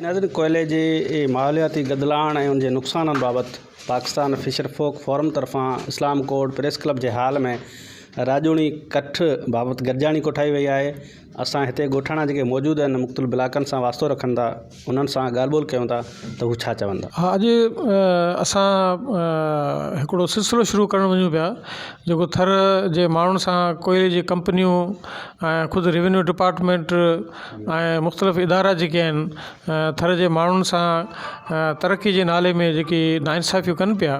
ناظرين ڪوئلي جي ماحولياتي گدلاڻ ۽ ان جي نقصانن بابت پاڪستان فشر فوڪ فورم طرفان اسلام ڪورٽ پريس ڪلب جي هال ۾ راڄوڻي ڪٺ بابت گڏجاڻي ڪوٺائي وئي آهي اسان هتي ڳوٺاڻا جيڪي موجود آهن مختلف بلاڪن سان واسطو رکن ٿا انهن سان ڳالهه ٻولهه ڪيون ٿا ته هو ڇا چوندا؟ ها اڄ اسان هڪڙو سلسلو شروع ڪرڻ وڃون پيا جيڪو ٿر جي ماڻهن سان ڪوئلي جي ڪمپنيون ۽ خود روينيو ڊپارٽمينٽ ۽ مختلف ادارا جيڪي آهن ٿر جي ماڻهن سان ترقي جي نالي ۾ جيڪي ناانصافيون ڪن پيا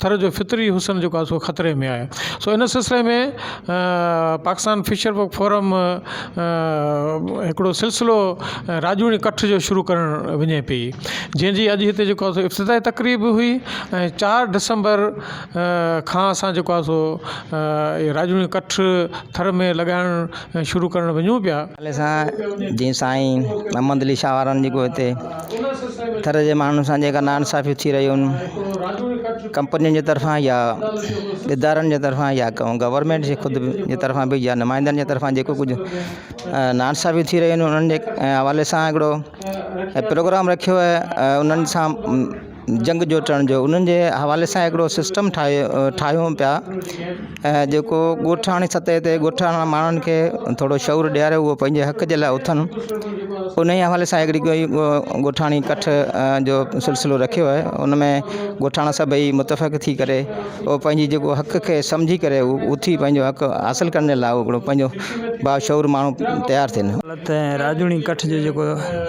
ٿر جو فطري حسن جيڪو آهي سو خطري ۾ آهي سو ان سلسلي ۾ پاڪستان فشر بڪ فورم هڪڙو سلسلو راڄوڻي ڪٺ جو شروع ڪرڻ وڃي پي جنهنجي اڄ هتي جيڪو آهي سو افتتاح تقريب به هئي ۽ چار ڊسمبر کان اسان جيڪو آهي سو راڄوڻي ڪٺ ٿر ۾ لڳائڻ شروع ڪرڻ وڃون پيا. حوالي سان جيئن سائين محمد علي شاهه وارن جيڪو هتي ٿر جي ماڻهن سان جيڪا ناانصافيون ٿي رهيون آهن ڪمپنين جي طرفان يا ادارن جي طرفان يا گورمينٽ جي خود جي طرفان به يا نمائندن جي طرفان جيڪو ڪجهه ناانصافيون ٿي رهيون آهن انهن جي حوالي سان هڪڙو پروگرام رکيو ويو انهن سان جنگ جوٽڻ جو انهن جي حوالي سان هڪڙو سسٽم ٺاهيو ٺاهيون پيا ۽ جيڪو ڳوٺاڻي سطح تي ڳوٺاڻن ۾ ماڻهن کي ٿورو شعور ڏياري هو پنهنجي حق جي لاء اٿن ان جي حوالي سان هڪڙي ڪوئي ڳوٺاڻي ڪٺ جو سلسلو رکيو آهي ان ۾ ڳوٺاڻا سڀئي متفق ٿي ڪري او پنهنجي جيڪو حق کي سمجهي ڪري اٿي پنهنجو حق حاصل ڪرڻ لاء هڪڙو پنهنجو باشعور ماڻهو تيار ٿين ته راڄوڻي ڪٺ جو جيڪو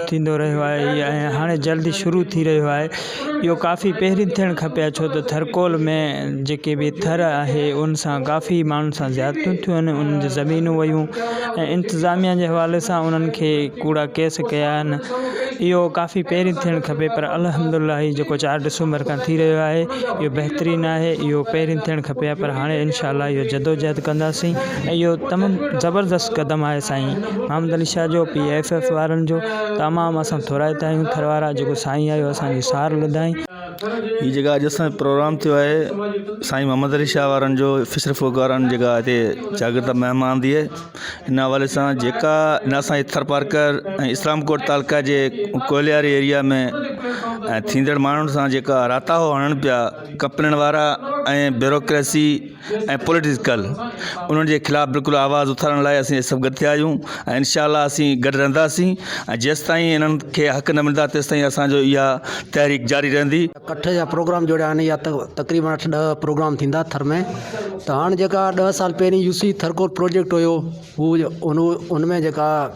ٿيندو رهيو آهي ۽ هاڻي جلد ئي شروع ٿي رهيو آهي اهو ڪافي پهرين ٿيڻ کپي ها ڇو ته ٿرڪول ۾ جيڪي به ٿر آهي ان سان ڪافي ماڻهن سان زيادتيون ٿيون آهن انهن جون زمينون ويون ۽ انتظاميا جي حوالي سان انهن کي ڪوڙا ڪيس ڪيا آهن اهو ڪافي پهرين ٿيڻ کپي پر الحمدالله هي جيڪو چار ڊسمبر کان ٿي رهيو آهي اهو بهترين آهي اهو پهرين ٿيڻ کپي ها پر هاڻي انشاء الله اهو جدوجهد ڪنداسين اهو تمام زبردست قدم آهي سائين محمد علي شاهه جو پي ايف ايف وارن جو تمام اسان ٿورائتا آهيون ٿر وارا جيڪو سائين آيو اسانجي سار لڌائين. هي جيڪا اڄ اسان جو پروگرام ٿيو آهي سائين محمد علي شاهه وارن جو فشر فوڪ وارن جيڪا هتي شاگرد مهمان ٿئي ان حوالي سان جيڪا ان اسان جي ٿر پارڪر ۽ اسلام ڪوٽ تعلقه جي ڪولهياري ايريا ۾ ٿيندڙ ماڻهن سان جيڪا راتاهو هڻن پيا ڪپلڻ وارا ۽ بيروڪريسي ۽ پوليٽيڪل انهن جي خلاف بلڪل آواز اٿارڻ لاء اسين سڀ گڏ ٿيا آهيون ۽ انشاء الله اسين گڏ رهنداسين ۽ جيستائين انهن کي حق نه ملندا تيستائين اسان جو اها تحريڪ جاري رهندي. ڪٺ جا پروگرام جوڙيا آهن يا تقريبن اٺ ڏهه پروگرام ٿيندا ٿر ۾ ته هاڻ جيڪا ڏهه سال پهرين يوسي ٿرڪور پروجيڪٽ هيو هو ان ان ۾ جيڪا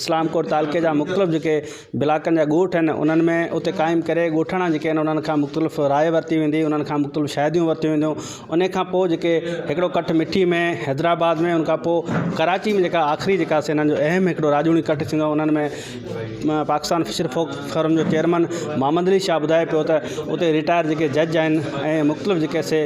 اسلام ڪوٽ تعلقي جا مختلف جيڪي بلاڪن جا ڳوٺ آهن انهن ۾ اتي قائم ڪري ڳوٺاڻا جيڪي آهن انهن کان مختلف راء ورتي ويندي انهن کان مختلف شاهديون ورتيون وينديون ان کان پوء جيڪي هڪڙو ڪٺ مٺي ۾ حيدرآباد ۾ ان کان پوء ڪراچي ۾ جيڪا آخري جيڪا سين آهن جو اهم هڪڙو راڄوڻي ڪٺ ٿيندو آهي انهن ۾ پاڪستان فشر فوڪ فورم جو چيئرمن محمد علي شاهه ٻڌائي پيو ته اتي ريٽائر جيڪي جج آهن ۽ مختلف جيڪي سي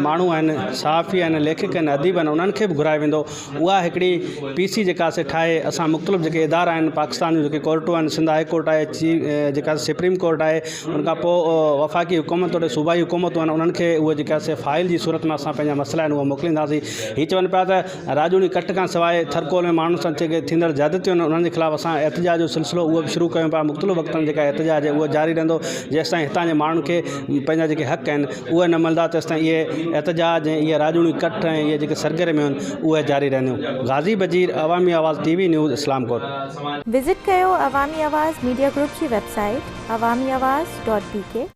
ماڻهو آهن صحافي آهن ليکڪ آهن اديب آهن انهن کي به گهرايو ويندو اها هڪڙي پي سي جيڪا سي ٺاهي اسان مختلف جيڪي ادارا آهن پاڪستان جون جيڪي ڪورٽون آهن سنڌ هاء ڪورٽ آهي چي جيڪا سپريم ڪورٽ آهي ان کان پوء وفاقي حڪومت توڙي صوبائي حڪومتون آهن انهن کي اهو جيڪا سي فائل جي صورت ۾ اسان پنهنجا مسئلا آهن اهو موڪلينداسين هي چون پيا ته راڄوڻي ڪٽ کان سواء ٿرڪول ۾ ماڻهن سان جيڪي ٿيندڙ زيادتيون آهن انهن جي خلاف اسان احتجاج جو سلسلو اهو به شروع ڪيون پيا مختلف وقتن جيڪا احتجاج اهو جاري رهندو جيستائين هتان جي ماڻهن کي پنهنجا جيڪي حق آهن اهي نه ملندا تيستائين اهي احتجاج ۽ اهي راڄوڻيون ڪٺ ۽ اهي جيڪي سرگرميون آهن اهي جاري رهنديون. غازي Bajeer, Awami Awaz T V news Islamkot. Visit ڪيو عوامي آواز ميڊيا گروپ جي web site Awami Awaz dot بي ڪي.